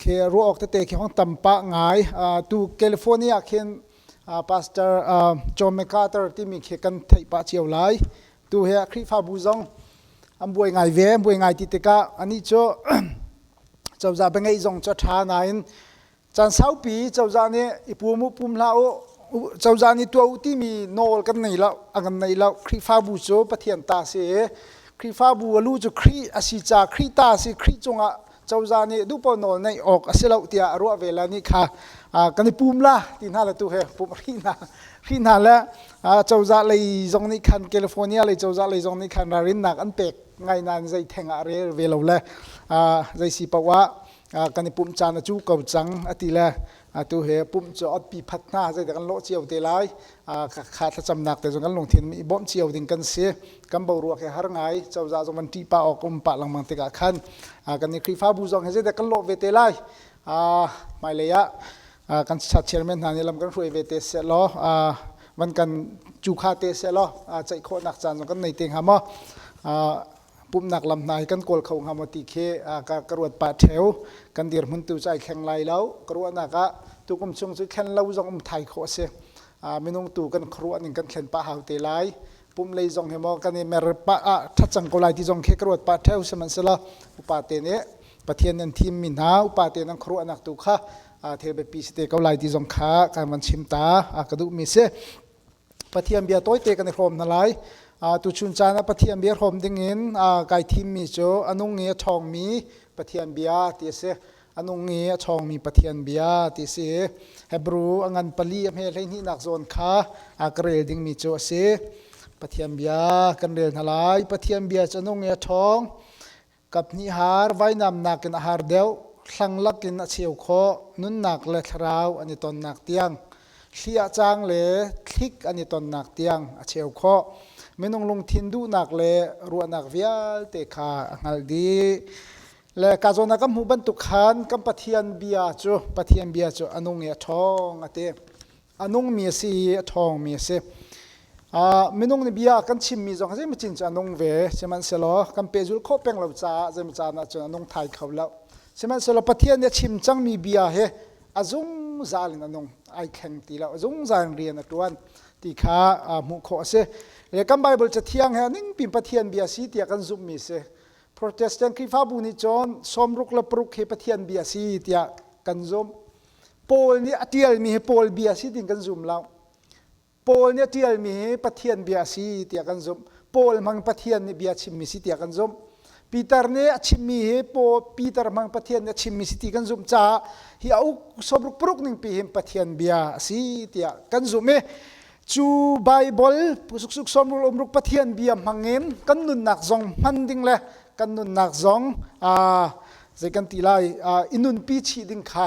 khi ruah awk tete khi hong tam pah ngai tu california ah khin pastor john macarthur timi khi kan theih pah cio lai tu he khrihfabu zong an buai ngai ve an buai ngai ti tikah anih cu cozah va ngeih zong cu a ṭha nain Caan saupi cozah nih i pum u pum hlah u cozah nih tuah u timi nawl kan nei lo a kan nei lo Khrihfabu cu Pathian ta si i Khrihfabu a lu cu Khrih a si ca Khrih ta si Khrih cungah cozah nih duhpaoh nawl neih awk a si lo tiah a ruah ve la ni kha kan i pum la ti hna le tu he pum rhi hna rhi hna le cozah lei zong nih khan California lei cozah lei zong nih khan ralrinnak an pek ngai nan zei theng ah rel ve lo le zei si paoh ah kan i pumh caan a cu ko cang a ti le atu he pumh cu ot pi phat hna zeidah kan lawh cio te lai kha thlacamnak te zong kan lungthin i bawmh cio ding kan si kan boruak he har ngai cozah zong van ṭih pah awk um pah lengmang tikah khan kan i Khrihfabu zong he zeidah kan lawh ve te lai hmailei ah kan chairman hna nih lam kan hruai ve te seh law van kan cu kha te seh law ceih khawhnak caan zong kan nei te hnga maw pumhnak lam hna hi kan kawl kho hnga maw ti khi ka, ka ruat pa theo kan dirhmun tu cu ai thleng lai lo ka ruahnak ah tukum chung cu thlen lo zong um thai khawh a si minung tu kan khuaruah ning kan thlen pah hau te lai pum lei zong hi maw kan i mer pa ah that cang ko lai ti zong khi ka ruat pa theo sihmanhsela upa te nih pathian nan thim mi hna upa te nan khuaruahnak tu kha thil biapi si te ko lai ti zong kha kan van chim ta ka duh mi si Pathian bia tawite kan i hrawm hna lai. tuchun caan ah Pathian bia hrawm dingin kai thimmi cu a nung i a ṭhawngmi Pathian bia ti a si. A nung i a ṭhawngmi Pathian bia ti a si i Hebrew a ngan pali a hme hleihnihnak zawn kha ka rel dingmi cu a si. Pathian bia kan rel hna lai. Pathian bia cu a nung i a ṭhawng. Kaphnih har vainamnak in a har deuh, hlanghlak in a cheu khawh, nunnak le thlarau an i tonnak tiang, hliah cang le thlik an i tonnak tiang a cheu khawh. Minung lungthin duhnak le ruahnak vialte kha a hngalh dih. Le ka zawn ah kan hmuh bantuk khan kan Pathian bia cu Pathian bia cu a nung i a ṭhawng a ti. a nungmi a si i a ṭhawngmi a si. Uh, minung nih bia kan chimmi zong zeimacin cu a nung ve, sihmanhsehlaw kan pehzulh khawh peng lo caah zeimacaan ah cun a nung thai kho lo. Sihmanhsehlaw Pathian nih a chim cangmi bia hi a zungzal in a nung, ai thleng ti lo, a zungzal in rian a ṭuan ti kha uh, hmuh khawh a si. Le kan Baibal cathiang he ningpin Pathian bia si tiah kan zumhmi si. Protestant Khrihfabu nih cun sawm ruk le paruk hi Pathian bia si tiah kan zumh. Paul nih a ṭialmi hi Paul bia si ding kan zum lo. Paul nih a ṭialmi hi Pathian bia si tiah kan zumh. Paul hmang Pathian nih bia chimmi si tiah kan zumh. Peter nih a chimmi hi Peter hmang Pathian nih a chimmi si ti kan zumh caah hi a uk somruk paruk ning pi hin Pathian bia a si tiah kan zumh i cu Bible suksuk somruk umruk Pathian bia hmang in kan nunnak zong hman ding le kan nunnak zong aa Zei kan ti lai i nunpi chih ding kha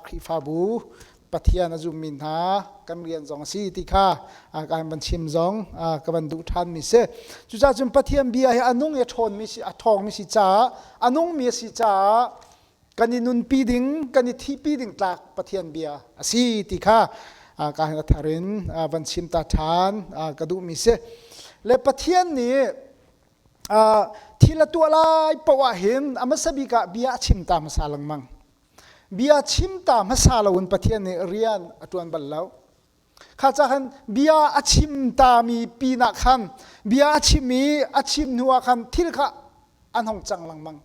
Khrihfabu Pathian a zummi hna kan rian zong a si ti kha kan van chim zong ka van duh ṭhanmi si. Cucaah cun Pathian bia hi a nung i a ṭhawnmi si, a ṭhawngmi si caah, a nungmi a si caah kan i nunpi ding, kan i thihpi ding tlak Pathian bia a si ti kha ka thar in van chim ta ṭhan ka duhmi si. Le Pathian nih thil a tuah lai poah hin a hmasa bik ah bia a chim ta hmasa lengmang bia chim ta hmasa lo in Pathian nih rian a ṭuan bal lo kha ca khan bia a chim tami pinah khan bia a chim i a chim hnuah khan thil kha an hong cang lengmang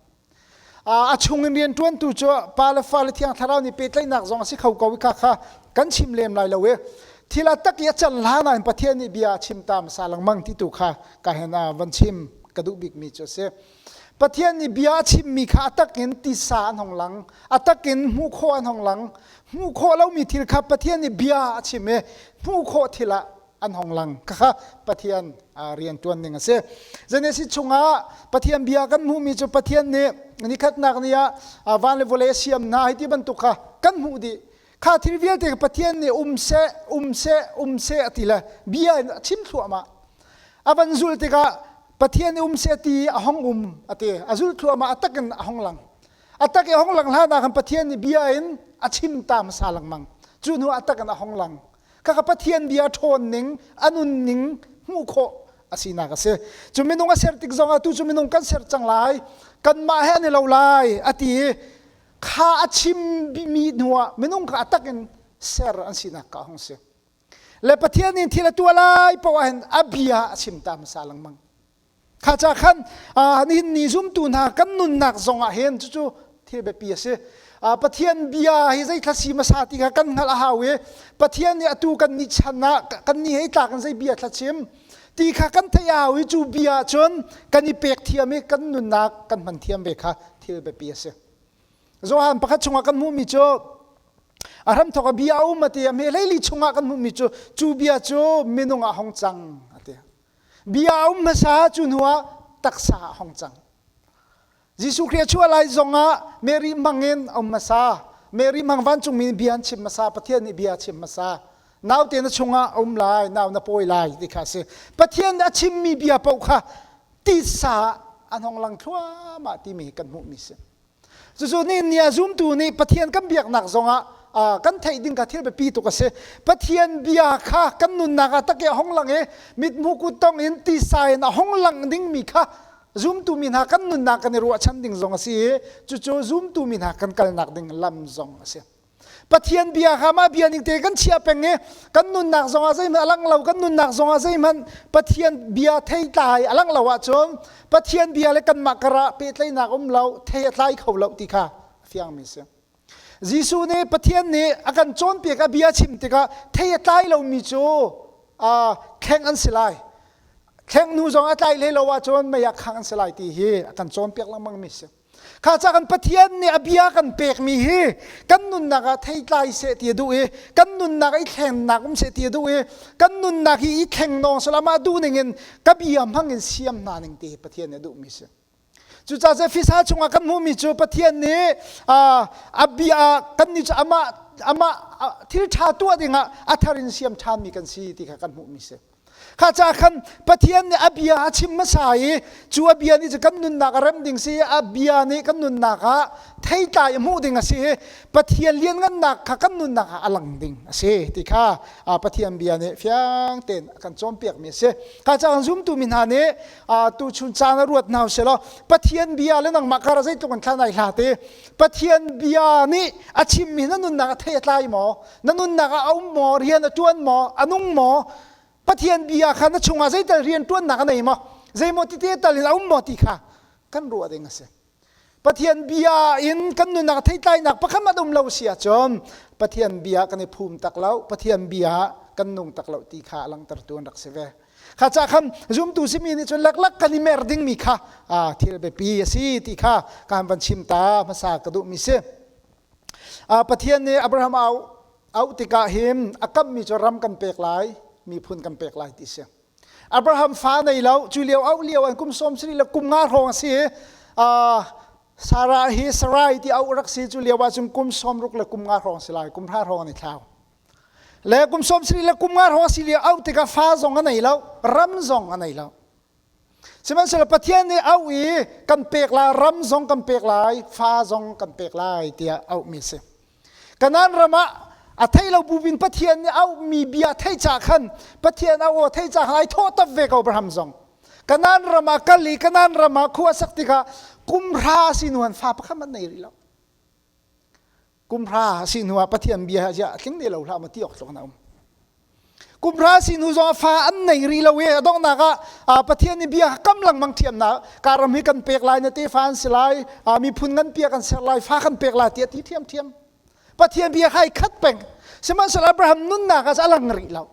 a chung in rianṭuantu cu pa le fale thiang thlarau nih pehtlaihnak zong a si kho ko i kha kha kan chim lem lai lo i thil a tak i a cer hlan ah Pathian nih bia a chim ta hmasa lengmang ti tu kha ka hen ah van chim ka duh bikmi cu a si Pathian nih bia a chimmi kha a tak in tisa an hong lang a tak in hmuh khawh an hong lang hmuh khawh lomi thil kha Pathian nih bia a chim i hmuh khawh thil ah an hong lang kha Pathian rian ṭuan ning a si. Genesis chungah Pathian bia kan hmuhmi cu Pathian nih nikhatnak ni ah van le vawlei a siam hna hi ti bantuk kha kan hmuh dih. Kha thil vialte Pathian nih um seh, um seh, um seh a ti le bia in a chim thluahmah. A van zul tikah Pathian um seh ti a hong um a ti. A zul thluahmah a tak in a hong lang. A tak i a hong lang hlanah khan Pathian nih bia in a chim ta hmasa lengmang. Cu hnu a tak in a hong lang. Khaka Pathian bia ṭhawn ning, a nunning hmuh khawh a sinak a si. Cu minung a ser tik zongah tu cu minung kan ser cang lai. Kanmah he an i lo lai a ti i kha a chimmi hnuah minung kha a tak in ser an sinak ka hung si. Le Pathian nih thil a tuah lai paoh ahhin a bia a chim ta hmasa lengmang. Kha ca khan nihin ni zumtu hna kan nunnak zongah hin cucu thil biapi a si. Pathian bia hi zeithla si hmasa ti kha kan hngalh a hau i Pathian nih atu kan nih chan ah kan nih hei tlak in zei bia thlachim ti kha kan theih a hau i cu bia ahcun kan i pek thiam i kan nunnak kan hman thiam ve kha thil biapi a si. Johan pakhat chungah kan hmuhmi cu a hramthawk a bia a um a ti a hme leili chungah kan hmuhmi cu cu bia cu minung ah hong cang a ti. bia a um hmasa cu hnu ah taksa a hong cang Jesuh Khrih a chuah lai zong ah Mary mang in a um hmasa Mary mang vancungmi nih bia an chim hmasa Pathian nih bia a chim hmasa naute na chungah a um lai nau na pawi lai ti kha a si Pathian nih a chimmi bia paoh kha tisa ah an hong lang thluahmah timi hi kan hmuhmi si Cucu ni ah zumtu nih Pathian kan biaknak zongah uh, kan theih ding ka thil biapi tuk a si. Pathian bia kha kan nunnak ah tak i a hong lang i mithmuh kut tong in tisa in a hong lang dingmi kha zumtu mi hna kan nunnak kan i ruahchan ding zong a si i cucu zumtu mi hna kan kalnak ding lam zong a si. Pathian bia kha mah bia ning te kan chiah peng i kan nunnak zongah zeihmanh a lang lo kan nunnak zongah zeihmanh Pathian bia thei tlai a lang lo ahcun Pathian bia le kanmah karah pehtlaihnak um lo thei a tlai kho lo ti kha a fiangmi si. Jesuh nih Pathian nih a kan cawnpiak a bia chim tikah thei a tlai lomi cu uh, thleng an si lai. Thleng hnu zong a tlai hlei lo ahcun mei ah khang an si lai ti hi a kan cawnpiak lengmangmi si. Kha ca kan Pathian nih a bia kan pekmi hi kan nunnak ah theitlai seh ti a duh i kan nunnak i thlengnak um seh ti a duh i kan nunnak hi i thlengdong sal amah duh ning in ka bia hmang in siam hna ning ti Pathian nih a duhmi si. Cucaah Efesa chungah kan hmuhmi cu Pathian nih a bia kan nih cu amah amah thil ṭha tuah dingah a thar in siam ṭhanmi kan si ti kha kan hmuhmi si. Kha ca khan Pathian nih a bia a chim hmasa i cu a bia nih kan nunnak a remh ding si i a bia nih kan nunnak ah theitlai a hmuh ding a si i Pathian lianngannak kha kan nunnak ah a lang ding a si ti kha Pathian bia nih fiang tein a kan cawnpiakmi a si. Kha ca kan zumtu mi hna nih tu chun caan a ruat hna selaw Pathian bia le nangmah kar zeitluk an khan ai hlat i Pathian bia nih a chimmi na nunnak a theitlai maw? na nunnak ah a um maw rian a ṭuan maw a nung maw Pathian bia kha na chungah zeital rian ṭuannak a nei maw zeimaw tite tal in a um maw ti kha kan ruah ding a si Pathian bia in kan nunnak theitlainak pakhat at um lo si ahcun Pathian bia kan i phum tak lo Pathian bia kan nung tak lo ti kha langtertu an rak si ve kha ca kham zumtu simi nih cun laklak kan i mer dingmi kha thil biapi a si ti kha kan van chim ta hmasa ka duhmi si Pathian nih Abraham auh auh tikah hin a kammi cu ram kan pek lai miphun kan pek lai ti si. Abraham fa nei lo cu lio auh lio an kum sawm sari le kum nga hrawng a si i Sarah hi Sarai ti auh rak si cu lio ahcun kum sawm ruk le kum nga hrawng si lai kum hra hrawng an i thlau le kum sawm sari le kum nga hrawng a si lio auh tikah fa zong a nei lo ram zong a nei lo Sihmanhsehlaw Pathian nih auh i kan pek lai, ram zong kan pek lai, fa zong kan pek lai tiah auhmi a si. Kanan ram ah a thei lo buvin Pathian nih auhmi bia thei ca khan Pathian auh aw thei ca khan ai thawhtap ve ko Abraham zong. Kanan ram ah kal i Kanan ram ah khu a sak tikah kumhra a si hnuan fa pakhat hmanh nei rih lo. Kumhra a si hnu ah Pathian bia he ciah tling ne lo hlah ma ti awk tlawk na um. Kumhra a si hnu zong fa an nei rih lo i a donghnak ah Pathian i bia kam lengmang thiamnak karam hi kan pek lai na te fa an si lai miphun ngan pia kan ser lai fa kan pek lai tiah ti thiam thiam Pathian bia khai khat peng sihmanhsehlaw Abraham nunnak as a lang rih lo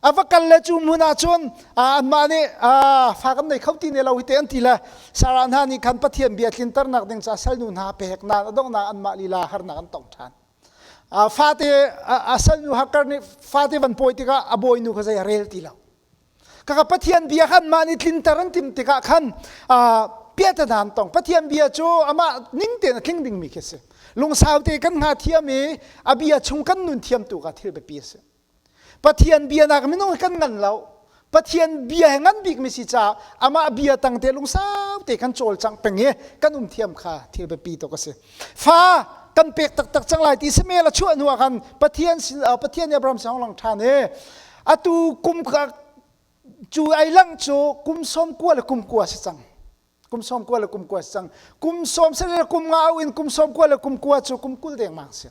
A va kal le cu hmun ah cun anmah nih fa kan nei kho ti ne lo hi te an ti le Sara hna nih khan Pathian bia tlinternak ding ca salnu hna peknak a donghnak anmah lila harnak an tong ṭhan. Fate a salnu Hakar nih fate van pawi tikah a bawinu kha zei a rel ti lo. Kaka Pathian bia khan mah nih tlinter an timh tikah khan piatanan tong Pathian bia cu amah ning tein a tling dingmi khi a si. Lungsau te kan nga thiam i a bia chung kan nun thiamtu ka thil biapi a si. Pathian bia nak minung kan ngan lo Pathian bia he ngan bik mi si ca amah bia tang te lungsau te kan cawl cang peng i kan um thiam kha thil biapi tuk a si fa kan pek taktak cang lai ti sime la chuah hnu ah khan Pathian sin Pathian Abraham song long than e atu kum ka cu ai lang cu kum som kua le kum kua si cang kum som kua le kum kua si cang kum som se le kum nga in kum som kua le kum kua cu kum kul deng mang si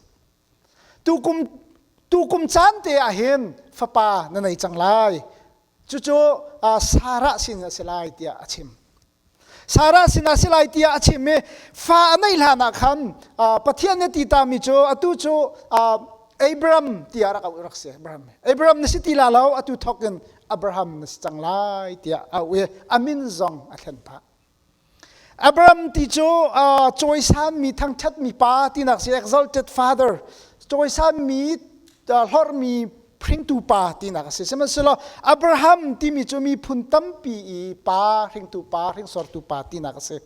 tukum tukum caan te ah hin fapa na nei cang lai cucu Sarah sin a si lai tiah a chim Sarah sinah si lai tiah a chim i fa a neih hlan ah khan Pathian nih ti tami cu atu cu Abraham tiah rak auh rak si Abraham Abraham na si ti la lo atu thawk in Abraham na si cang lai tiah a auh i a min zong a thlen phah Abraham ti cu uh, cawisanmi thangṭhatmi pa tinak si exalted father cawisanmi uh, hlorhmi hringtu pa tinak a si sihmanhsehlaw Abraham timi cu miphun tampi i pa hringtu pa hringsortu pa tinak a si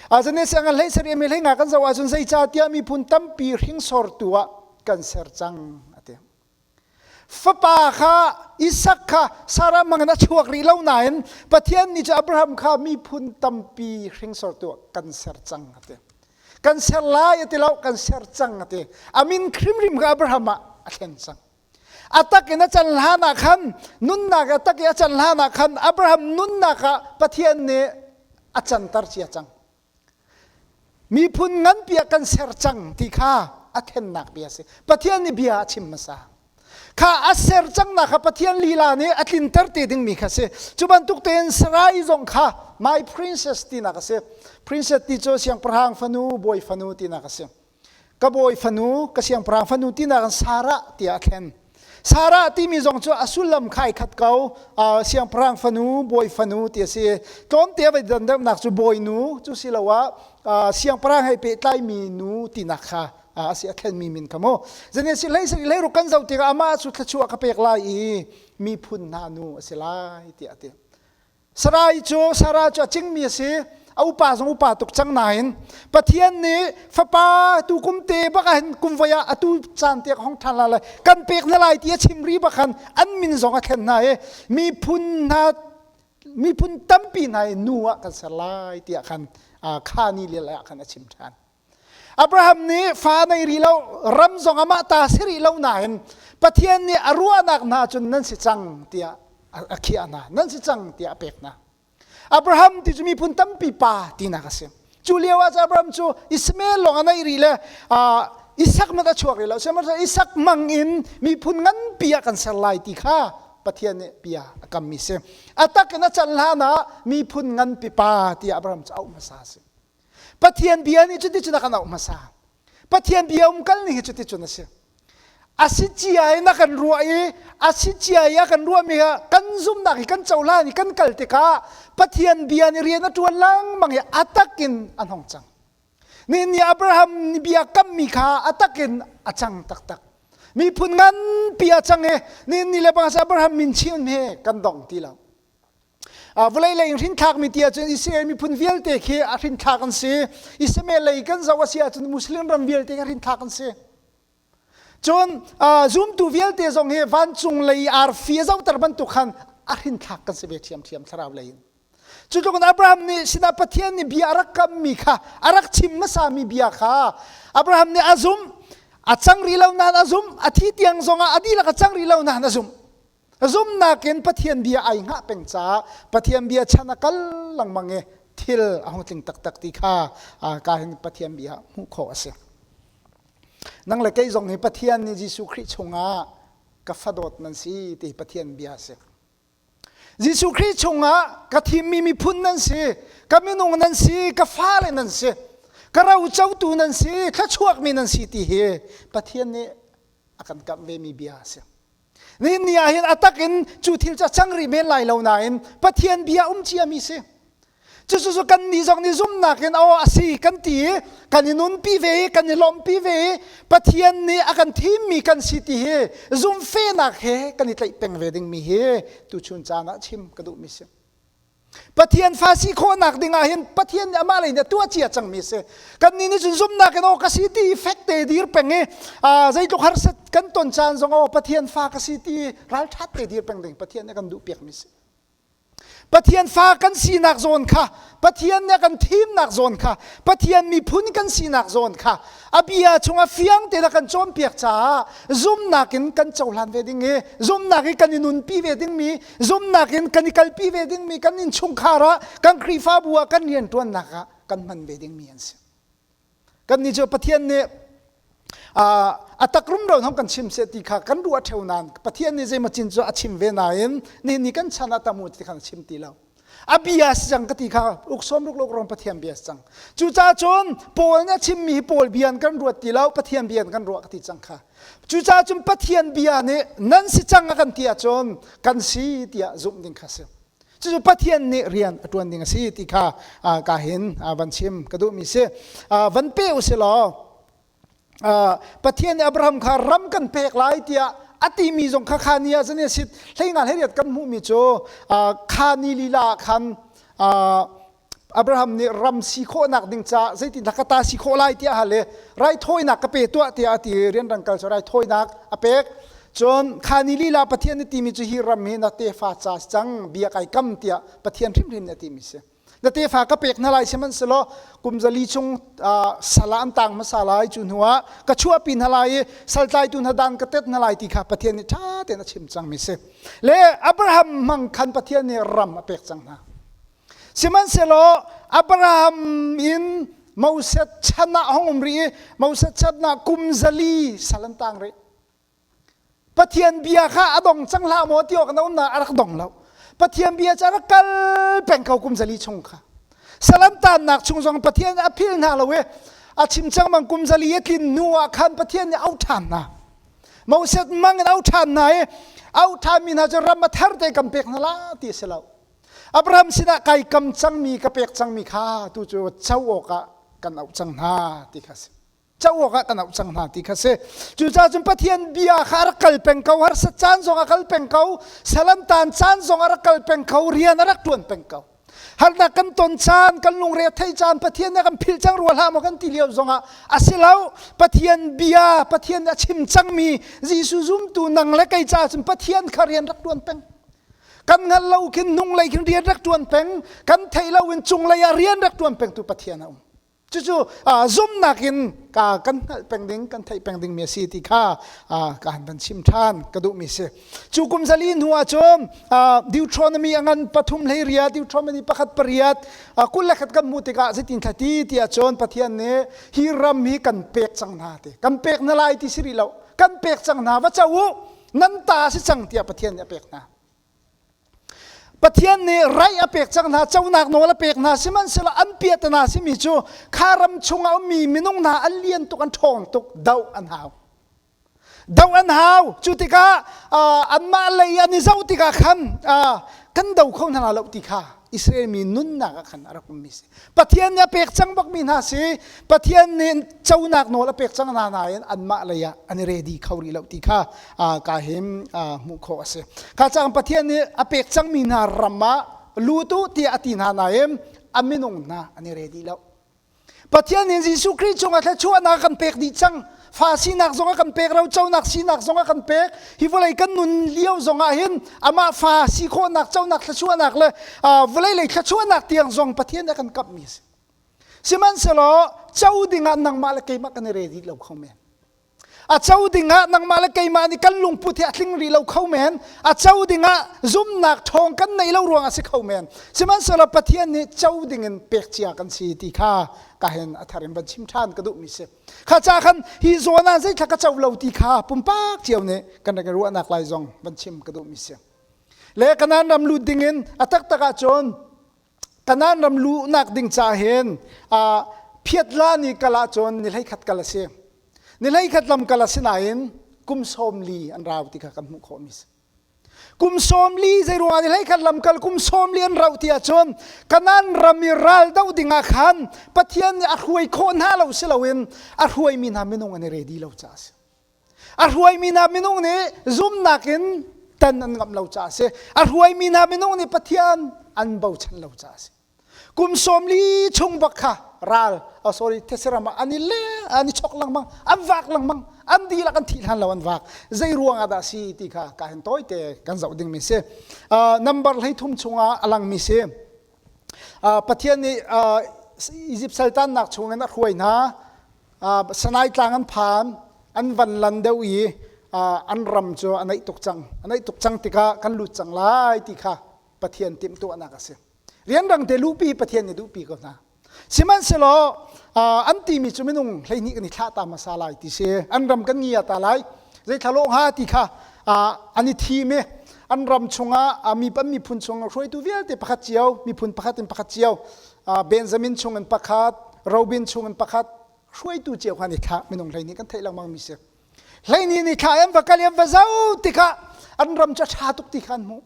azane siangah hlei sari mi hlei nga kan zoh ahcun zeicahtiah miphun tampi hringsortu ah kan ser cang a ti Fapa kha Isak kha Sarah mangin a chuak rih lo nain Pathian nih cu Abraham kha miphun tampi hringsor tu kan ser cang a ti. Kan ser lai a ti lo, kan ser cang a ti. A min hrimhrim kha Abraham ah a thlen cang. A tak in a can hlan ah khan nunnak a tak i a can hlan ah khan Abraham nunnak ah Pathian nih a canter cia cang. miphun nganpi ah kan ser cang ti kha a thlennak bia a si pathian nih bia a chim hmasa kha a ser cangnak kha pathian lila nih a tlinter te dingmi kha si cu bantuk tein sarai zong kha my princess tinak a si princess ti cu siangpahrang fanu bawi fanu tinak a si ka bawi fanu ka siangpahrang fanu tinak in Sarah tiah a khen Sarah timi zong cu a sullam khai khat ko siangpahrang fanu bawi fanu ti a si tlawmte vai dandannak cu bawi nu cu si lo ah siangpahrang he pehtlai mi nu tinak kha a si a thlen mi min ka mu zane si hlei si hlei ru kan zoh tikah amah cu thluachuah ka pek lai i miphun hna nu a si lai tiah a ti Sarai cu Sarah cu a cingmi a si. A upa zong upa tuk cang nain Pathian nih fapa tu kum te bak ah hin kum voi ah atu caan te hong ṭhan hlah lai kan pek hna lai ti a chimri bak khan an min zong a thlen hna i miphun hna miphun tampi hna i nu ah kan ser lai tiah khan Khani lila ah khan a chim ṭhan. Abraham nih fa nei rih lo ram zong amah ta si rih lo nain Pathian nih a ruahnak hna cun nan si cang tiah a khiah hna nan si cang tiah a pek hna Abraham ti cu miphun tampi pa tinak a si cu lio ah Abraham cu Ismael lawng a naih rih le Isak mat a chuak rih lo sihmanhsehlaw Isak mang in miphun nganpi ah kan ser lai ti kha Pathian nih bia a kammi si a tak in a can hlan ah miphun nganpi pa tiah Abraham cu auh hmasa a si Pathian bia nih cuticun a kan auh hmasa. Pathian bia um kal ning hi cuticun a si. A si cia in a kan ruah i a si cia i a kan ruahmi hi kan zumnak hi kan cohlan i kan kal tikah Pathian bia nih rian a ṭuan lengmang i a tak in a hnong cang. Nihin ni Abraham nih bia kammi kha a tak in a cang taktak. Miphun nganpi a cang i nihin ni le bang Abraham min chin hi kan dong ti lo. Vawlei lei in hrinthlakmi ti ahcun Israel miphun vialte khi a hrinthlak an si. Israel lei kan zoh a si ahcun Muslim ram vialte a hrinthlak an si. Cun zumtu vialte zong hi vancung lei arfi a zohter bantuk khan a hrinthlak kan si ve ṭhiamṭhiam thlarau lei in. Cutluk in Abraham nih sinah Pathian nih bia a rak kammi kha a rak chim hmasami bia kha Abraham nih a zumh. A cang rih lo nain a zumh. A thi tiang zongah a dihlak a cang rih lo nain a zumh. zumnak in Pathian bia ai ngah peng caah Pathian bia chan a kal lengmang i thil a hung tling taktak ti kha ka hin Pathian bia hmuh khawh a si. Nang le kei zong hi Pathian nih Jesuh Khrih chungah ka fadawt nan si ti Pathian bia a si. Jesuh Khrih chungah ka thimmi miphun nan si, ka minung nan si, ka fale nan si, ka rocotu nan si, thluachuakmi nan si ti hi Pathian nih a kan kamh vemi bia a si. Nihin ni ah hin atak in cu thil cu a cang rih men lai lo nain Pathian bia um ciami si. Cucu kan nih zong nih zumnak in aw a si kan ti i kan i nunpi ve i kan i lawmhpi ve i Pathian nih a kan thimmi kan si ti hi zumhfehnak he kan i tlaih peng ve dingmi hi tuchun caan ah chim ka duhmi si. Pathian fa si khawhnak ding ah hin Pathian nih amah lei nih a tuah cia cangmi si. Kannih nih cun zumnak in aw ka si ti fek te dir peng i zeitluk harsat kan ton caan zong aw Pathian fa ka si ti ralṭhat te dir peng ding Pathian nih a kan duh piakmi si. Pathian fa kan sinak zawn kha Pathian nih a kan thimnak zawn kha Pathian miphun kan sinak zawn kha a bia chungah fiang tein a kan cawnpiak caah zumnak in kan cohlan ve ding i zumnak i kan i nunpi ve dingmi zumnak in kan i kalpi ve dingmi kan innchungkhar ah kan Khrihfabu ah kan rianṭuannak ah kan hman ve dingmi an si kan nih cu Pathian nih a tak rumro hong kan chim seh ti kha kan ruah theo nain Pathian nih zeimacin cu a chim ve nain nihin ni kan chan ah tamu ti kha chim ti lo a bia a si cang ka ti kha uk sawm ruk lo rong pathian bia a si cang cucaah cun paul nih a chimmi hi paul bia in kan ruat ti lo pathian bia in kan ruah ka ti cang kha cucaah cun pathian bia nih nan si cang a kan ti ahcun kan si tiah zumh ding kha si cucu pathian nih rian a ṭuan ding a si ti kha ka hin van chim ka duhmi si van pe u si law Pathian nih Abraham kha ram kan pek lai tiah a timi zong kha kha ni ah zan sit hleinga hleriat kan hmuhmi cu kha ni lila ah khan Abraham nih ram si khawhnak ding caah zeitindah ka ta si khawh lai tiah hale raithawinak ka pe tuah tiah a ti i rianrang kal cu raithawinak a pek cun kha ni lila Pathian nih timi cu hi ram hi na tefa ca si cang bia kai kam tiah Pathian hrimhrin nih a timi si na tefa ka pek hna lai sihmanhsehlaw kumzali chung sala an tang hmasa lai cu hnu ah ka chuahpi hna lai i saltlaitu hna dan ka tet hna lai ti kha Pathian nih ṭha tein a chim cang mi si le Abraham hmang khan Pathian nih ram a pek cang hna sihmanhsehlaw Abraham in Moses chan ah hong um rih i Moses chan ah kumzali sal an tang rih Pathian bia kha a dong cang hlah maw ti awk na umnak a rak dong lo. Pathian bia cu a rak kal peng ko kum zali chung kha. Salam tannak chung zong Pathian a phil hna lo i a chim cangmang kum zali a tlin hnu ah khan Pathian nih auh ṭhan hna. Moses mang in auh ṭhan hna i auh ṭhanmi hna cu ram a thar te kan pek hna la ti a si lo. Abraham sinah kai kam cangmi ka pek cangmi kha tu cu co awkah kan auh cang hna ti kha a si. co awkah kan auh cang hna ti kha si cucaah cun pathian bia kha a rak kal peng ko harsa caan zong a kal peng ko salantan caan zong a rak kal peng ko rian a rak ṭuan peng ko harnak kan ton caan kan lungre thei caan pathian nih kan phil cang rua hlah maw kan ti lio zongah a si lo pathian bia pathian nih a chim cangmi Jesuh zumtu nang le kei ca cun pathian kha rian rak ṭuan peng kan hngal lo khin nung lei khin rian rak ṭuan peng kan thei lo in cung lei ah rian rak ṭuan pengtu pathian a um cucu zumnak in ka kan hngalh peng ding kan theih peng dingmi a si ti kha ka han van chim ṭhan ka duhmi si cu kum zali hnu ah cun deuteronomy a ngan pathum hlei riat deuteronomy pakhat pariat kul le khat kan hmuh tikah zeitin thla ti tiah cun pathian nih hi ram hi kan pek cang hna te kan pek na lai ti si rih lo kan pek cang hna va co u nan ta si cang tiah pathian nih a pek hna Pathian nih rai a pek cang hna, conak nawl a pek hna, sihmanhsehlaw an piah ta hna simi cu kha ram chung a ummi minung hna an lian tuk, an ṭhawng tuk, doh an hau. Doh an hau. Cu tikah anmah lei an i zoh tikah khan kan do kho hna lo ti kha Israel mi nunnak ah khan a rak ummi si. Pathian nih a pek cang bakmi hna si, Pathian nih conak nawl a pek cang hna nain anmah lei ah an i ready kho rih lo ti kha ka him hmuh khawh a si. Kha cang Pathian nih a pek cangmi hna ram ah lutu tiah a ti hna nain a minung hna an i ready lo. Pathian in Jesuh Khrih cungah thluachuahnak kan pek dih cang. Fa sinak zong a kan pek, roconak sinak zong a kan pek. Hi vawlei kan nun lio zongah hin amah fa si khawhnak conak thluachuahnak le vawlei lei thluachuahnak tiang zong Pathian a kan kamhmi a si. Sihmanhsehlaw co dingah nangmah le keimah kan i re dih lo kho men. a co dingah nangmah le keimah nih kan lungput hi a tling rih lo kho men a co dingah zumnak ṭhawng kan neih lo ruangah si kho men sihmanhsehlaw Pathian nih co dingin pek cia kan si ti kha ka hen a thar in van chim ṭhan ka duhmi si kha ca khan hi zawn ah zeitlak ka co lo ti kha pumpak cio nih kan rak i ruahnak lai zong van chim ka duhmi si le kanan ram lut dingin a taktak ahcun Kanaan ram lu nak ding ca hin uh, phiatla ni kal ahcun ni hleikhat kal a si. Ni hleikhat lam kal a si nain kum sawm li an rau ti kha kan hmuh khawh mi si. Kum sawm li zei ruang ni hleikhat lam kal kum sawm li an rau ti ahcun Kanaan ram i ral do ding ah khan Pathian nih a hruai khawh hna lo si loin a hruai mi hna minung an i ready lo ca a si. A hruaimi hna minung nih zumnak in tan an ngamh lo caah a si. A hruaimi hna minung nih Pathian an bochan lo caah a si. Kum sawm li chung bak kha ral, oh sorry, thesiram ah an i le, an i chok lengmang, an vak lengmang, an dihlak an thih hlan lo an vak. Zei ruang ah dah si ti kha ka hen tawite kan zoh ding mi si. Uh, number hleithum chungah a lang mi si. Uh, Pathian nih uh, Egypt saltannak chungin a hruai hna. Sanai tlang an phan, an van lan deuh i an ram cu a naih tuk cang. A naih tuk cang tikah kan lut cang lai ti kha Pathian timhtuahnak a si. Rianrang te luhpi Pathian nih duhpi ko hna. Sihmanhsehlaw an timi cu minung hleihnih kan i thlah ta hmasa lai ti si. An ram kan ngia ta lai. Zeitlal awh hnga ti kha an i thim i an ram chungah mi an miphun chungah hruaitu vialte pakhat cio, miphun pakhat in pakhat cio Benjamin chung in pakhat Robin chung in pakhat hruaitu cio khan i thlah minung hlei nih kan theih lengmang mi si hleini ni thla em va kal em va zau tikah an ram cu ṭha tuk ti kha an hmuh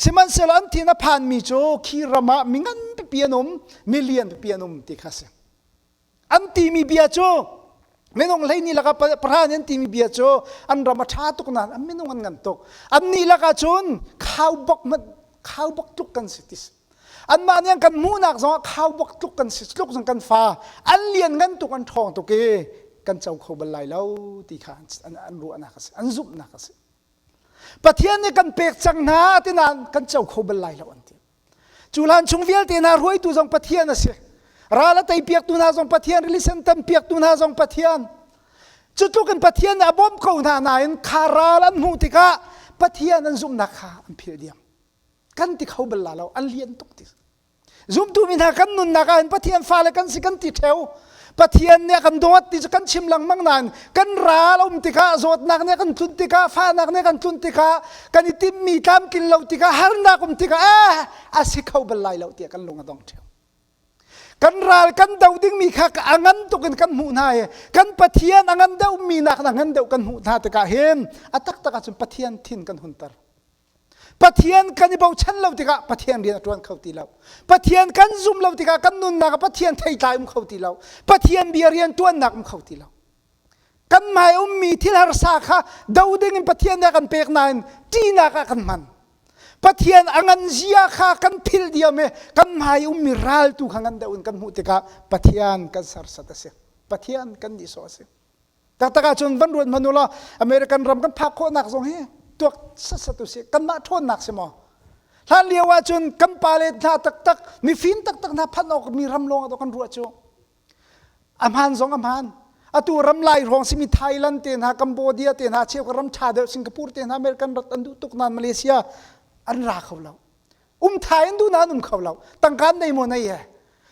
sihmanhsehlaw an thin a phan mi cu khi ram ah mi ngan pipi an um milian pipi an um ti kha a si an timi bia cu minung hleini lakah pahra nih an timi bia cu an ram a ṭha tuk nain an minung an ngan tuk annih lakah cun khaubok hmanh khaubok tluk kan si ti anmah nih an kan hmuhnak zongah khaubok tluk kan si tluk zong kan fa an lian ngan tuk an ṭhawng tuk i kan co kho bal lai lo ti kha an ruahnak a si an zumhnak a si pathian nih kan pek cang hna tinain kan co kho bal lai lo an ti Cu hlan chung vialte hna ruaitu zong Pathian a si. Ral a tei piaktu hna zong Pathian, rili sentam piaktu hna zong Pathian. Cutluk in Pathian nih a bawmh ko hna nain kha ral an hmuh tikah Pathian an zumhnak kha an philh diam. Kan ti kho bal la lo, an lian tuk ti. Zumtu mi hna kan nunnak ah hin Pathian fale kan si kan ti theo Pathian nih a kan dawt ti cu kan chim lengmang nain kan ral a um tikah zawtnak nih a kan tlunh tikah fahnak nih a kan tlunh tikah kan i timmi tlamtlin lo tikah harnak um tikah eh a si kho bal lai lo tiah kan lung a dong ṭheo. Kan ral kan do dingmi kha a ngan tuk in kan hmuh hna i kan Pathian a ngan deuhmi nak in a ngan deuh kan hmuh hna tikah hin a taktak ahcun Pathian thin kan hunter. Pathian kan i bochan lo tikah Pathian rian a ṭuan kho ti lo. Pathian kan zum lo tikah kan nunnak ah Pathian theitlai um kho ti lo. Pathian bia rianṭuannak um kho ti lo. Kan hmai ummi thil harsa kha do ding in Pathian nih a kan pek nain ṭihnak ah kan hman. Pathian a ngan zia kha kan philh diam i kan hmai ummi ral tu kha ngan deuh in kan hmuh tikah Pathian kan sersat a si. Pathian kan nihsawh a si. Taktak ahcun van ruat hmanh ulaw American ram kan phak khawhnak zong hi tuak sat u si. Kanmah ṭhawnnak si maw? Hlan lio ahcun kan pale hna taktak, mifim taktak hna phanh awkmi ram lawngah doch kan ruah cu. A hmaan zong a hmaan. Atu ram lai hrawng simi Thailand te hna, Cambodia te hna, cheu ka ram ṭha deuh Singapore te hna American rat an duh tuk nain Malaysia an ra kho lo. um tha in duh na um kho lo tangkan nei maw nei he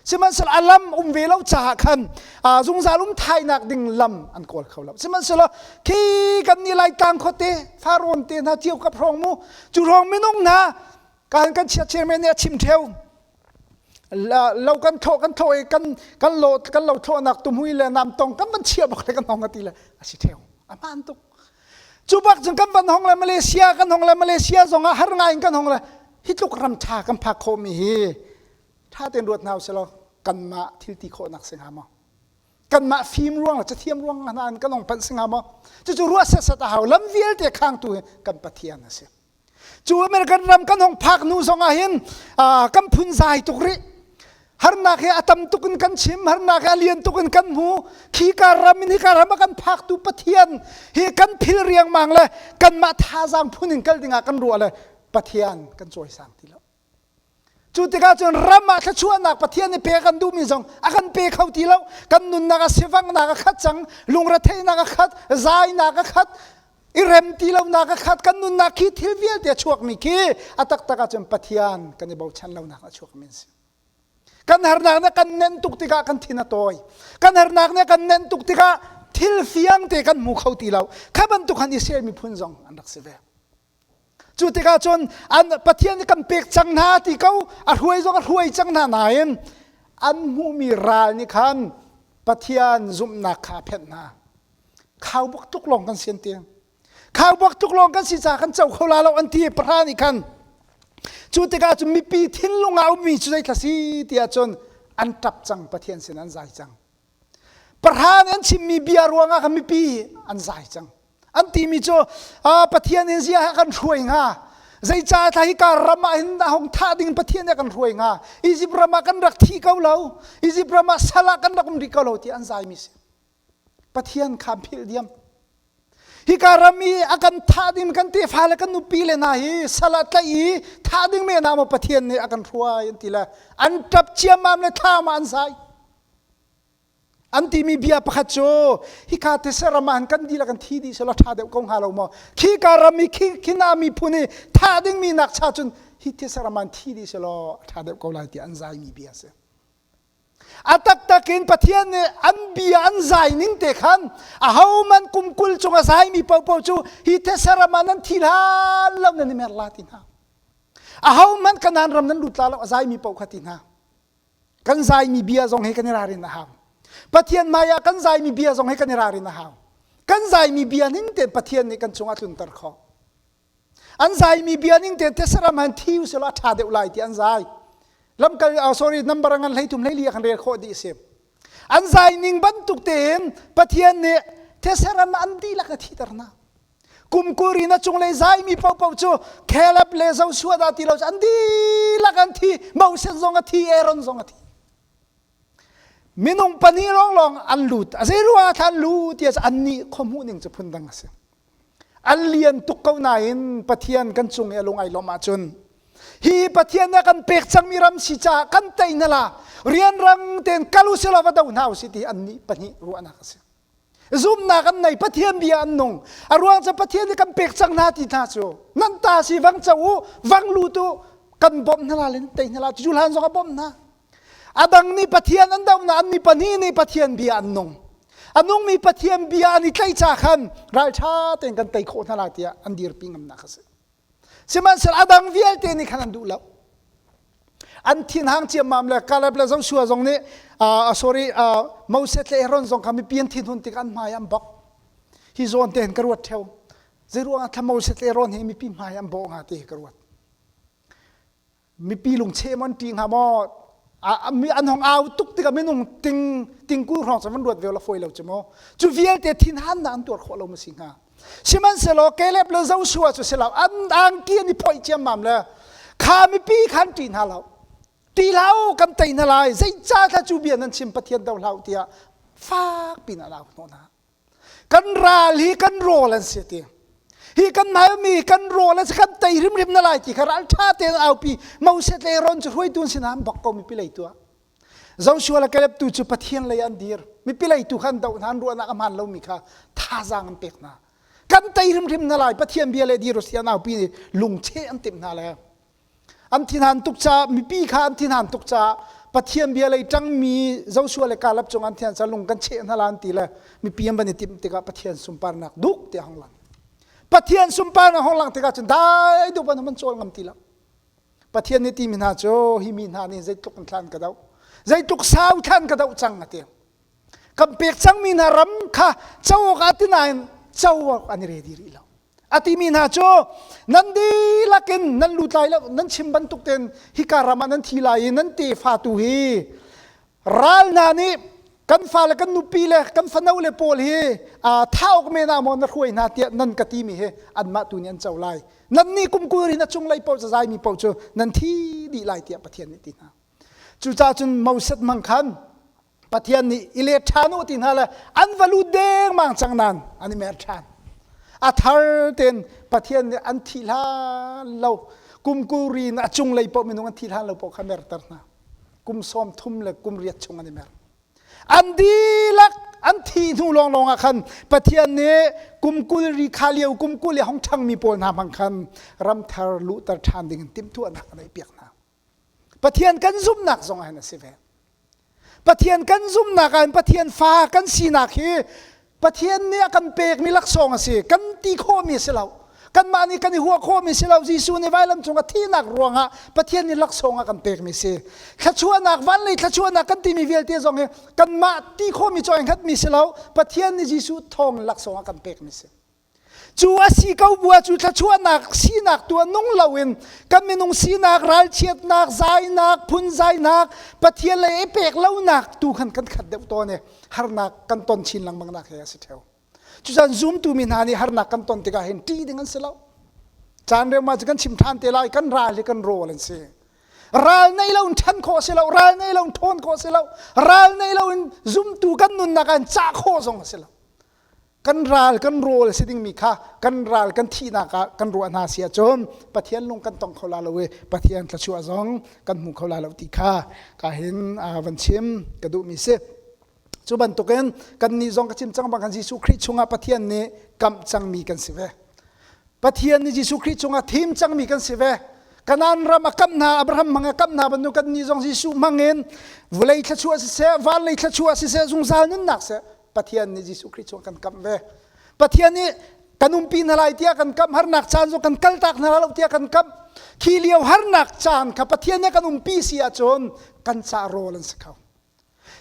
sihmanhsehlaw a lam um ve lo caah khan zungzal um thainak ding lam an kawl kho lo sihmanhsehlaw khi kan ni lai tlang khuate faron te hna tiau ka prong mu cu rong minung hna kan kan chiat chairman ne chim theo lo kan tho kan tho i kan kan lo kan lo tho nak tu mui le nam tong kan man chia bak le kan hong ati le asi theo aman tuk cu bak cun kan van hong le malaysia kan hong le malaysia zong ah har ngai in kan hong le hi tluk ram tha kan phak khawh mi hi tha tein ruat hna usih law kanmah thilti khawhnak si hnga maw kanmah fim ruang le cathiam ruang hna in kan hong phanh si hnga maw cucu ruah set set a hau lam vialte khangtu hi kan pathian a si Cu American ram kan hong phak nu zong ah hin kan phun zai tuk rih. Harnak he a tam tuk in kan chim, harnak he a lian tuk in kan hmu. Khika ram in hika ram a kan phaktu Pathian hi kan phil riangmang le kanmah thazaang phun in kal dingah kan ruah le Pathian kan cawisang ti lo. Cu tikah cun ram ah thluachuahnak Pathian i pek kan duhmi zong a kan pe kho ti lo. Kan nunnak a sivangnak a khat cang, lungretheihnak a khat, zainak a khat, i rem ti lonak a khat. Kan nunnak khi thil vialte a chuakmi khi a taktak ahcun Pathian kan i bochan lonak a chuakmi an si. Kan harnak nih kan nenh tuk tikah kan thin a tawi. Kan harnak nih kan nenh tuk tikah thil fiangte kan hmu kho ti lo. Kha bantuk han Israel miphun zong an rak si ve. Cu tikah cun an Pathian nih kan pek cang hna ti ko a hruai zong a hruai cang hna nain an hmuhmi ral nih khan Pathian zumhnak kha a phenh hna. Khaubuak tuk lawng kan si an ti. Khaubuak tuk lawng kan si caah kan co kho la lo an ti i pahra nih khan cu tikah cun mipi thinlung ah a ummi cu zeitla si tiah cun an ṭap cang Pathian sin an zai cang. Pahra nih an chimmi bia ruangah kan mipi an zai cang. An timi cu Pathian in zia kan hruai hnga. Zeicaah tha hi kar ram ah hin hong thah ding Pathian nih kan hruai hnga. Egypt ram ah kan rak thi ko lo. Egypt ram ah sal ah kan rak um rih ko lo ti an zaimi si. Pathian kha an philh diam. Hika ram i a kan thah ding kan tefa le kan nupi le hna hi sal ah tlaih i thah ding men ah maw Pathian nih a kan hruai an ti le an ṭap ciammam le thlam ah an zai an timi bia pakhat cu hika tese ram ah kan dil a kan thi dih selaw ṭha deuh ko hnga lo maw khika ram i khina miphun i thah dingmi nakcha cun hi tese ram ah an thi dih selaw a ṭha deuh ko lai tiah an zaimi bia a si a taktak in Pathian nih an bia an zai ning te khan a ho man kum kul chung a saimi popo cu hi thesaram ah nan thi hlan lo nan i mer la ti hna a ho man kanan ram nan lut la lo a zaimi po kha ti hna kan zaimi bia zong he kan i ralrin a hau Pathian maya kan zaimi bia zong he kan i ralrin a hau kan zaimi bia ning te Pathian nih kan cungah tlunter khawh an zai mi bia ning te te saram han thi u sela tha deuh lai ti an zai lamkal oh sorry number ngan hlei thum hlei li kan rel kho di si an zai ning bantuk te in pathian nih theseram an dihlak a thiter na kum kuri na chung le zai mi pau pau cu Caleb le Joshua da ti lo an dihlak an thi Moses zong a thi Aaron zong a thi minung pani long long an lut a zei ruwa thlan lut ti an ni khomu ning cu phun dang a si an lian tuk ko nain Pathian kan cung i a lung ai lawm ahcun hi Pathian a kan pek cangmi ram si caah kan tei hna la rianrang tein kal u selaw va do hna u si ti annih pahnih ruahnak a si zumnak an nei Pathian bia an nung a ruang cu Pathian i kan pek cang hna ti hna cu nan ta si vang co u vang lu tu kan bawmh hna la le tei hna la cu hlan zong a bawmh hna A dang nih Pathian an dohnak an mi pahnih nih Pathian bia an nung. A nungmi Pathian bia an i tlaihca khan ralṭha tein kan tei khawh hna lai tiah an dirpi ngamnak a si. Sihmanhsehlaw a dang vialte nih khan an duh lo. An thinhang ciammam le Caleb le Joshua zong nih uh, sorry uh, Moses le Aaron zong kha mipi an thinhun tikah an hmai an bok. Hi zawn te hin ka ruat theo. Zei ruangah thla Moses le Aaron hi mipi hmai an bawh hnga ti hi ka ruat. mipi lung che man ti hnga maw mi an hong au tuk tikah minung ting tingkul hrawng cun van ruat ve la foi lo cu maw cu vialte thin han na an tuar khawh lo ma si hnga sihmanhsehlaw Caleb le Joshua cu silau an angki an i phoih ciammam le kha mipi khan ṭi hna lo ti hlau kan tei hna lai zeicah thla cu bia nan chim pathian do hlau tiah fak pin an au hnawh hna kan ral hi kan rawl an si ti hi kan malmi kan rawl an si kan tei hrimhrim na lai ti kha ral ṭha tein aupi moses le ron cu hruaitu an sinam bak ko mipi lei tuah Joshua le Caleb tu cu Pathian lei an dir mipi lei tu khan doh hna ruahnak a hmaan lomi kha thazaang an pek hna kan tei hrimhrim na lai Pathian bia le dir u sian aupi nih lungcheh an timh hna le an thinhan tuk caah mipi kha an thinhan tuk caah pathian bia lei ṭangmi Joshua le Caleb cung an thian ca lung kan cheh hna la an ti le mipi an van i timh tikah Pathian sunparnak duk tiah hong lang Pathian sunparnak hong lang tikah cun dai deuh an cawl ngam ti lo Pathian nih timi hna cu hi mi hna nih zeitluk kan thlan ka doh zeitluk sau thlan ka doh cang a ti kan pek cangmi hna ram kha co awk ah ti nain co awk an i redi rih lo a timi hna cu nan dihlak in nan lutlai lo nan chim bantuk ten hika ram ah nan thi lai i nan tefa tu hi ral hna nih kan fale kan nupi le kan fano le pawl hi aa thauk men ah maw na hruai hna tiah nan ka timi hi anmah tu nih an co lai nan nih kumkul rin a cung lei paoh cazai mi paoh cu nan thi dih lai tiah Pathian nih ti hna cucaah cun Moses mang khan Pathian nih i let ṭhan u ti hna le an va lut dengmang cang nain an i mer ṭhan. A thar tein Pathian nih an thih hlan lo kum kuri in a cunglei paoh minung an thih hlan lo paoh kha merter hna. Kum sawm thum le kum riat chung an i mer. An dihlak an thih hnu lawnglawng ah khan Pathian nih kum kul ri kha lio kum kul i hong ṭhangmi pawl hna hmang khan ramthar luhter ṭhan ding in timhtuahnak a ngeih piak hna. Pathian kan zumhnak zong hin a si ve. Pathian kan zumhnak ah Pathian fa kan sinak hi Pathian nih a kan pekmi laksawng a si. Kan ti khawhmi a si lo. Kanmah nih kan i huah khawhmi si lo. Jesuh nih vailam cung a thihnak ruangah Pathian nih laksawng a kan pekmi si. Thluachuahnak, vanlei thluachuahnak kan timi vialte zong hi kanmah ti khawhmi cu ai hngatmi si lo. Pathian nih Jesuh thawng in laksawng a kan pekmi si. Cu a si ko bua cu thluachuahnak sinak tuah nung loin kan minung sinak, ralchiatnak, zainak, phunzainak, Pathian lei i pek lonak tu khan kan khat deuh tawn i harnak kan ton chin lengmang nak he a si theo. Cucan zumtu mi hna nih harnak kan ton tikah hin ṭih ding an si lo. Caan reu ma cu kan chim ṭhan te lai kan ral hi kan rawl an si. Ral nei lo in ṭhan khawh si lo, ral nei lo in ṭhawn khawh si lo, ral nei lo in zumtu kan nunnak ah in cah khawh zong a si lo. kan ral kan rawl si dingmi kha kan ral kan thihnak ah kan ruah hna si ahcun Pathian lung kan tong kho la lo i Pathian thluachuah zong kan hmu kho la lo ti kha ka hin van chim ka duhmi si cu bantukin kannih zong ka chim cang bang kan Jesuh Khrih chungah Pathian nih kamh cangmi kan si ve Pathian nih Jesuh Khrih chungah thim cangmi kan si ve kanan ram a kam hna Abraham mang a kam hna bantuk kan ni zong Jesuh mangin vulei thluachuah siseh van lei thluachuah siseh zungzal nunnak seh Pathian nih Jesuh Khrih cu a kan kamh ve. Pathian nih kan umpi hna lai tiah kan kamh harnak caan cu kan kaltak hna lai lo tiah kan kamh. Khi lio harnak caan kha Pathian nih a kan umpi si ahcun kan ca rawl an si kho.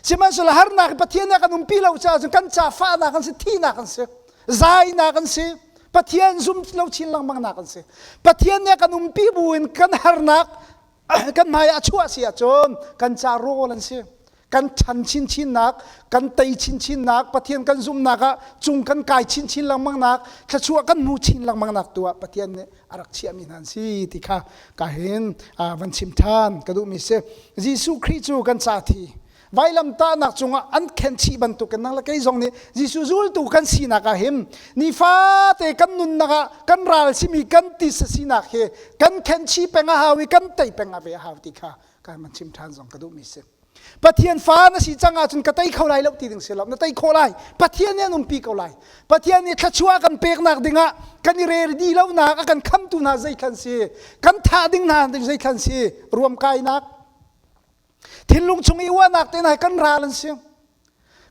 Sihmanhsehlaw harnak Pathian nih a kan umpi lo caah cun kan ca fahnak an si, thihnak an si, zainak an si, Pathian zum lo chin lengmangnak an si. Pathian nih a kan umpi bu in kan harnak kan hmai a chuah si ahcun kan ca rawl an si kan chan chinchinnak kan tei chinchinnak pathian kan zumhnak ah cung kan kai chinchin lengmangnak thluachuah kan hmu chin lengmangnak tu ah pathian nih a rak chiahmi hna an si ti kha ka hin van chim ṭhan ka duhmi si jesuh khrih cu kan ca thi Vailamtahnak cungah an khenchih bantuk in nang le kei zong nih Jesuh zultu kan sinak ah hin nifate kan nunnak ah kan ral simi kan tisa sinak hi kan khenchi peng a hau i kan tei peng ah ve a hau ti kha kan van chim ṭhan zong ka duhmi si. Pathian fa na si cang ahcun ka tei kho lai lo ti ding si lo na tei khawh lai Pathian nih an umpi ko lai Pathian nih thluachuah kan peknak dingah kan i redi lonak a kan khamtu hna zei khan si kan thah ding hna ding zei khan si ruam kainak thinlung chung i uahnak te nai kan ral an si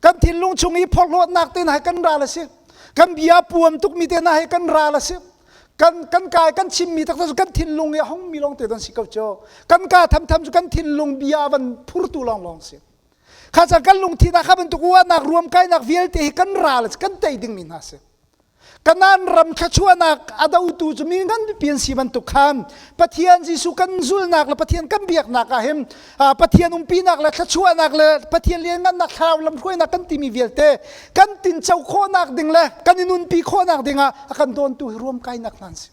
kan thinlung chung i phorhlawtnak te nai kan ral a si kan bia puam tukmi te nai kan ral a si kan kan kai kan chimmi tak cu kan thinlung i a hongmi long te don si ko cho kan ka tham tham cu kan thinlung bia van phurtu long long si kha ca kan lungthin ah kha bantuk uahnak ruam kainak vialte hi kan ral kan tei ding mi hna si Kanan ram thluachuahnak a dotu cu mi nganpi an si bantuk khan Pathian Jesuh kan zulnak le Pathian kan biaknak ah hin Pathian umpinak le thluachuahnak le Pathian lianngannak thlarau lamhruainak kan timi vialte kan tinco khawhnak ding le kan i nunpi khawhnak dingah a kan dawntu hi ruam kainak hna an si.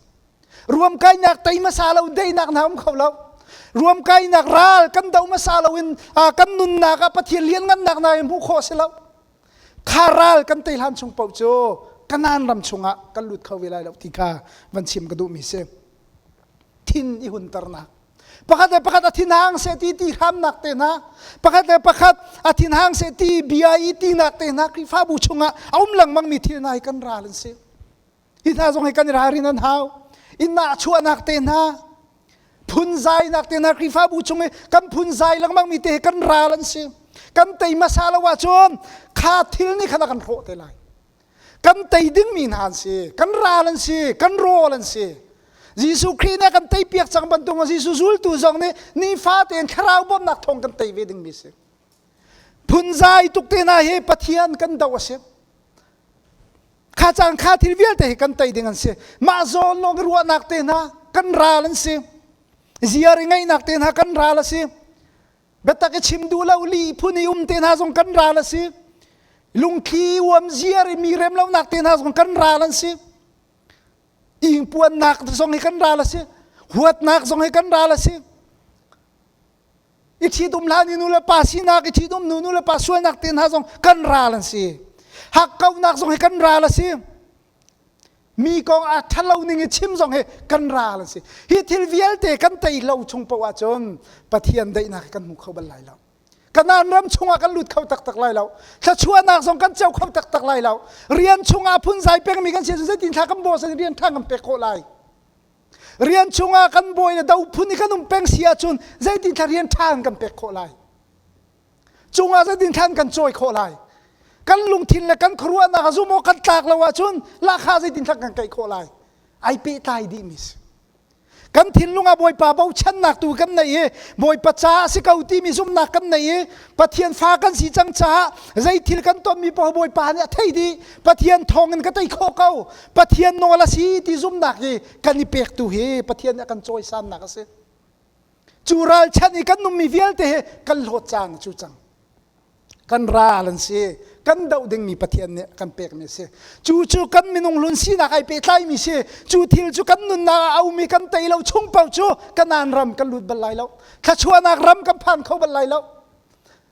Ruam kainak tei hmasa lo deinak hna um kho lo. Ruam kainak ral kan do hmasa lo in kan nunnak ah Pathian lianngannak hna hi hmuh khawh si lo. Kha ral kan tei hlan chung paoh cu Kanan ram chungah kan lut kho ve lai lo ti kha van chim ka duhmi si. Thin i hunternak. Pakhat le pakhat a thinhang se ti ti hramnak te hna. Pakhat le pakhat a thinhang se ti bia i tinak te hna Khrihfabu chungah a um lengmangmi thil hna hi kan ral an si. Hi hna zong hi kan i ralrin an hau. Innah chuahnak te hna, phunzainak te hna Khrihfabu chung i kan phunzai lengmang mi te hi kan ral an si. Kan tei hmasa lo ahcun kha thil nih khan a kan hrawh te lai. Kan tei ding mi hna an si. Kan ral an si. Kan rawl an si. Jesuh Khrih nih a kan tei piak cang bantuk Jesuh zultu zong nih nifa tein thlarau bawmhnak thawng kan tei ve ding mi si. Phunzai tuk te hna hi Pathian kan do a si. Kha caan kha thil vialte hi kan tei ding an si. Mah zawn lawng i ruahnak te hna kan ral an si. Ziar i ngaihnak te hna kan ral a si. Biatak i chim duh lo li phun i um te hna zong kan ral a si. Lungthli uam ziar i mi rem lonak te hna zong kan ral an si. Ingpuannak zong hi kan ral a si. Huatnak zong hi kan ral a si. i ṭhitum hlan i nulepa sinak i ṭhitum nu nulepa sualnak te hna zong kan ral an si hakkauhnak zong hi kan ral a si mi kong ah ṭhalo ning i chim zong hi kan ral an si hi thil vialte kan tei lo chung poh ahcun Pathian daihnak kan hmu kho bal lai lo Kanan ram chungah kan lut kho taktak lai lo thluachuahnak zong kan co kho taktak lai lo rian chungah phunzai pengmi kan si zeitin thla kan baw sai rian ṭha kan pek khawh lai rian chungah kan bawi le do phun i kan um peng si ahcun zeitin thla rian ṭha in kan pek khawh lai cungah zeitin thlan kan cawi khawh lai kan lungthin le kan khuaruahnak a zum awk kan tlak lo ahcun lahka zeitin thlan kan kaih khawh lai ai pehtlai dihmi si kan thinlung ah bawipa bochannak tu kan nei i bawipa ca a si ko timi zumnak kan nei i pathian fa kan si cang caah zei thil kan tonmi poh bawipa nih a thei dih pathian thawng in ka tei khawh ko Pathian nawl a si ti zumhnak hi kan i pektu hi Pathian nih a kan cawisannak a si. Cu ralchanh i kan nungmi vialte he kan hlawt cang cu cang. Kan ral an si. Kan doh dingmi Pathian nih kan pekmi a si. Cu cu kan minung hlun sinak ai pehtlaimi si. Cu thil cu kan nunnak ah a um i kan tei lo chung paoh cu Kanaan ram kan lut bal lai lo. Thluachuahnak ram kan phan kho bal lai lo.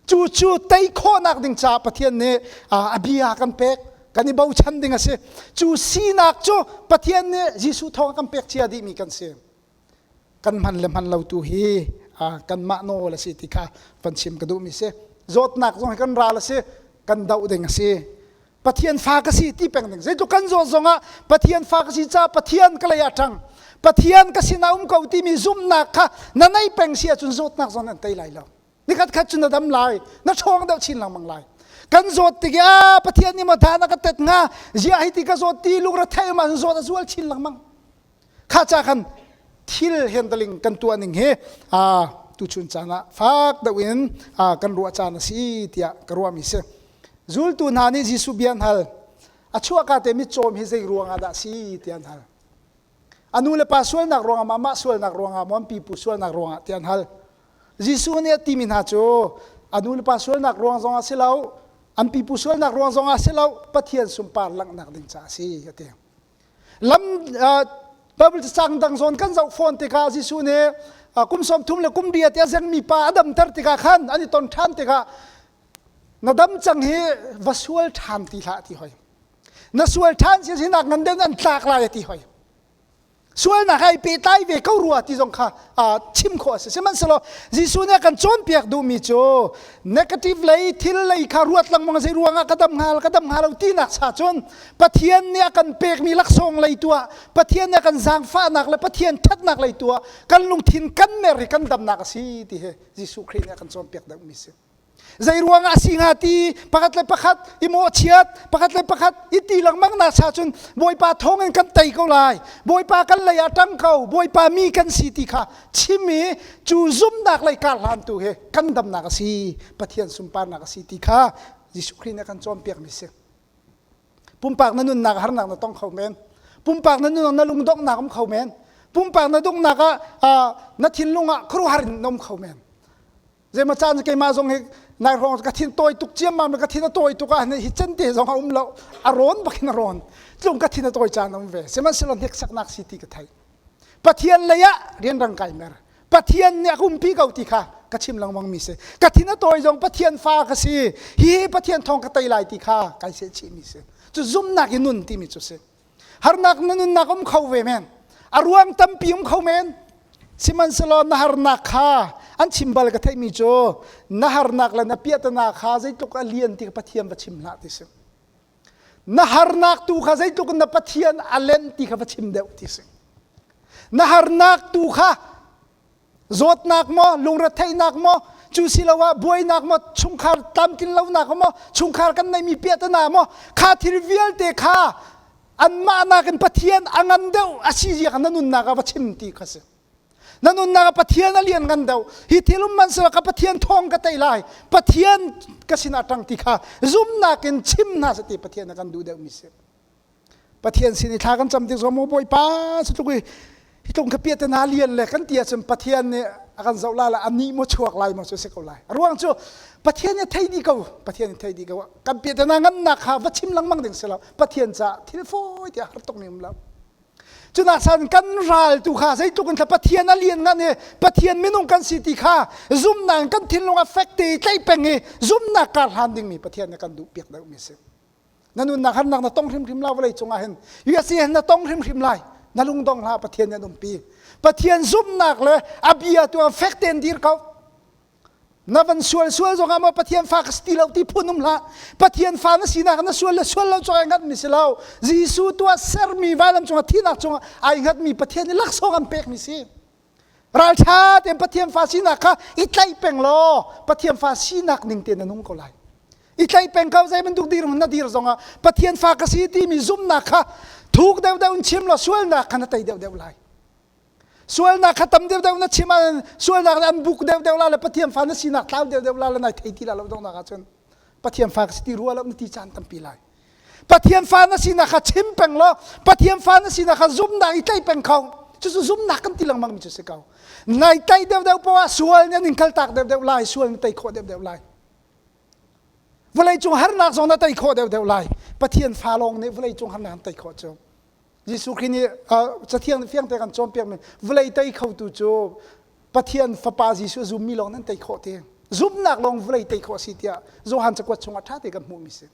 cu cu tei khawhnak ding caah Pathian nih a bia kan pek kan i bochan ding a si cu sinak cu Pathian nih Jesuh thawng a kan pek cia dihmi kan si kan man le man lo tu hi kanmah nawl a si ti kha kan chim ka duhmi si zawtnak zong hi kan ral a si kan doh ding a si Pathian fa ka si ti peng ding zeitluk kan zawt zong ah Pathian fa ka si ca Pathian ka lei ah ṭang Pathian ka sin a um ko timi zumhnak kha na nei peng si ahcun zawtnak zong nan tei lai lo nikhat khat cu na dam lai na ṭhawng deuh chin lengmang lai kan zawt tik ah pathian nih matha na ka tet hnga zia hi ti ka zawt ti lungre thei ma zawt a zual chin lengmang kha ca khan thil handling kan tuah ning hi a tu chun caan ah fak deuh in kan ruah caan a si tiah ka ruah mi si zultu hna nih Jesuh bia hal a chuahka te mit cawm hi zei ruang ah dah si ti an hal anu le pa sualnak ruangah mah mah sualnak ruangah maw pipu sualnak ruangah ti an hal Jesuh nih a timi hna cu a nulepa sualnak ruang zongah si lo, an pipu sualnak ruang zongah si lo, Pathian sunpar langhnak ding caah a si a ti. Lam Baibal cacang dang zawn kan zoh fawn tikah Jesuh nih kum sawmthum le kum riat i a zengmi pa a damter tikah khan an i ton ṭhan tikah na dam cang hi va sual ṭhan ti hlah a ti hoi. Na sual ṭhan si sinak ngan den an tlak lai a ti hoi. sualnak ai pehtlai ve ko rua ti zong kha uh, chim khawh a si sihmanhsehlaw Jesuh nih a kan cawnpiak duhmi cu negative lei thil lei kha ruat lengmang zei ruangah ka dam hnga ka dam hnga lo tinak sa cun Pathian nih a kan pekmi laksawng lei tu ah Pathian nih a kan zaangfahnak le Pathian ṭhatnak lei tu ah kan lungthin kan mer i kan damnak a si ti hi Jesuh Khrih nih a kan cawnpiak duhmi a si Zei ruang ah si hnga ti pakhat le pakhat i mawhchiat, pakhat le pakhat i ti lengmang nak sa cun Bawipa thawng in kan tei ko lai. Bawipa kan lei ah ṭang ko, Bawipa mi kan si ti kha chim i cu zumnak lei kar hlan tu hi kan damnak a si, Pathian sunparnak a si ti kha Jesuh Khrih nih a kan cawnpiakmi si. Pumpak na nunnak harnak na tong kho men. Pumpak na nunnak na lungdonghnak um kho men. Pumpak na dungnak ah na thinlung ah khuaruhar in na um kho men. Zeima caan keimah zong hi nai hrawng ka thin tawi tuk ciammam le ka thin a tawi tuk ah hi can te zong a um lo a rawn bakin a rawn tlung ka thin a tawi caan a um ve sihmanhsehlaw hnek saknak si ti ka thei Pathian lei ah rianrang kai mer Pathian nih a kumpi ko ti kha ka chim lengmang mi si ka thin a tawi zong Pathian fa ka si hi Pathian thawng ka tei lai ti kha kai se chih mi si cu zumnak i nun timi cu si harnak na nunnak um kho ve men a ruang tampi um kho men sihmanhsehlaw na harnak kha an chim bal ka theihmi cu na harnak le na piahtana kha zeitluk a lian ti pathian va chim hlah ti si na harnak tu kha zeitluk na pathian a len ti kha va chim deuh ti si na harnak tu kha zawtnak maw lungretheihnak maw cu siloah buainak maw chungkhar tlamtlin lonak maw chungkhar kan neihmi piahtana maw kha thil vialte kha anmah nakin Pathian a ngan deuh a si zia na nunnak ah va chim ti kha si na nunnak ah Pathian a lian ngan deuh hi thil um man sila ka Pathian thawng ka tei lai Pathian ka sin a ṭang ti kha zumnak in chim hna seh ti Pathian a kan duh deuhmi si Pathian sin i thla kan cam tik zong maw Bawipa cu tluk i hi tlung kha piah te hna lian le kan ti ahcun Pathian nih a kan zoh lai le a nih maw chuak lai maw cu si ko lai a ruang cu Pathian nih thei dih ko Pathian nih thei dih ko kan piah te hna ngannak kha va chim lengmang ding si lo Pathian caah thil fawi tiah har tuk ning um lo cunak san kan ral tu kha zeitluk in Pathian a lian ngan i Pathian minung kan si ti kha zumnak kan thinlung a fek te i tlaih peng i zumnak kar hlan dingmi Pathian nih kan duh piak deuhmi si na nunnak harnak na tong hrimhrim lai vawlei cungah hin US hi na tong hrimhrim lai na lungdong hlah Pathian an umpi Pathian zumhnak le a bia tu fek tein dir ko na van sual sual zongah maw Pathian fa ka si lo ti phun um hlah Pathian fa na sinak na sual le sual lo cungah ngat mi si lo Jesuh tuah sermi vailam cungah thihnak cungah ai ngat mi Pathian i laksawng an pek mi si Ralṭha tein Pathian fa sinak kha i tlaih peng law Pathian fa sinak ning tein nan hung ko lai. I tlaih peng ko zei bantuk dir na dir zongah Pathian fa ka si timi zumnak kha thuk deuhdeuh in chim law sualnak kha na tei deuhdeuh lai. Sualnak kha tam deuhdeuh na chim ahcun sualnak an buk deuhdeuh la le Pathian fa na sinak tlau deuhdeuh la le nai thei ti la lo dongnak ahcun Pathian fa ka si ti rua lo na ti caan tampi lai. Pathian fa na sinak kha chim peng law Pathian fa na sinak kha zumnak i tlaih peng kho cucu zumnak kan ti lengmang mi cu si ko nai tlaih deuh deuh poah sual nih ning kaltak deuh deuh lai sual nih tei khawh deuh deuh lai vawlei cung harnak zong na tei khawh deuh deuh lai Pathian fa lawng nih vawlei cung harnak an tei khawh cu Jesuh Khrih nih cathiang nih fiangte kan cawnpiakmi vawlei tei khotu cu Pathian Fapa Jesuh a zummi lawng nan tei khawh te. Zumnak lawng vawlei tei khawh a si tiah Johan cakuat chungah ṭha te kan hmuhmi si.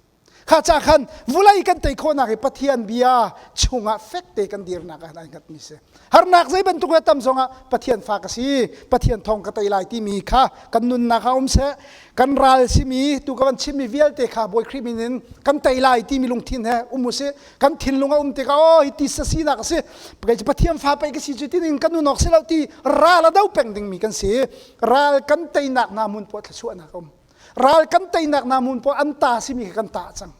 Kha ca khan vawlei kan tei khawhnak hi Pathian bia chungah fek te kan dirnak ah an hngatmi si. Harnak zei bantuk a tam zongah Pathian fa ka si, Pathian thawng ka tei lai timi kha kan nunnak ah um seh, kan ral simi, tu ka van chimmi vialte kha Bawi Khrih min in kan tei lai timi lungthin he um usih. kan thinlung a um tikah aw hi ti sa sinak a si kei cu pathian fa pei ka si cu tinin kan unawk si lo ti ral a do peng dingmi kan si ral kan teinak na mun puah thlasuahnak a um ral kan teinak na mun puah an ta simi kha kan ta cang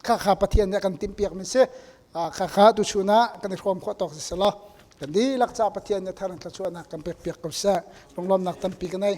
kha kha pathian nih a kan timpiak mi si kha kha tu chuna kan i hrawm khawh tawk si selo kan di lak ca pathian nih thar an thlasuahnak kan pek piak ko sa lunglawmnak tampi kan ei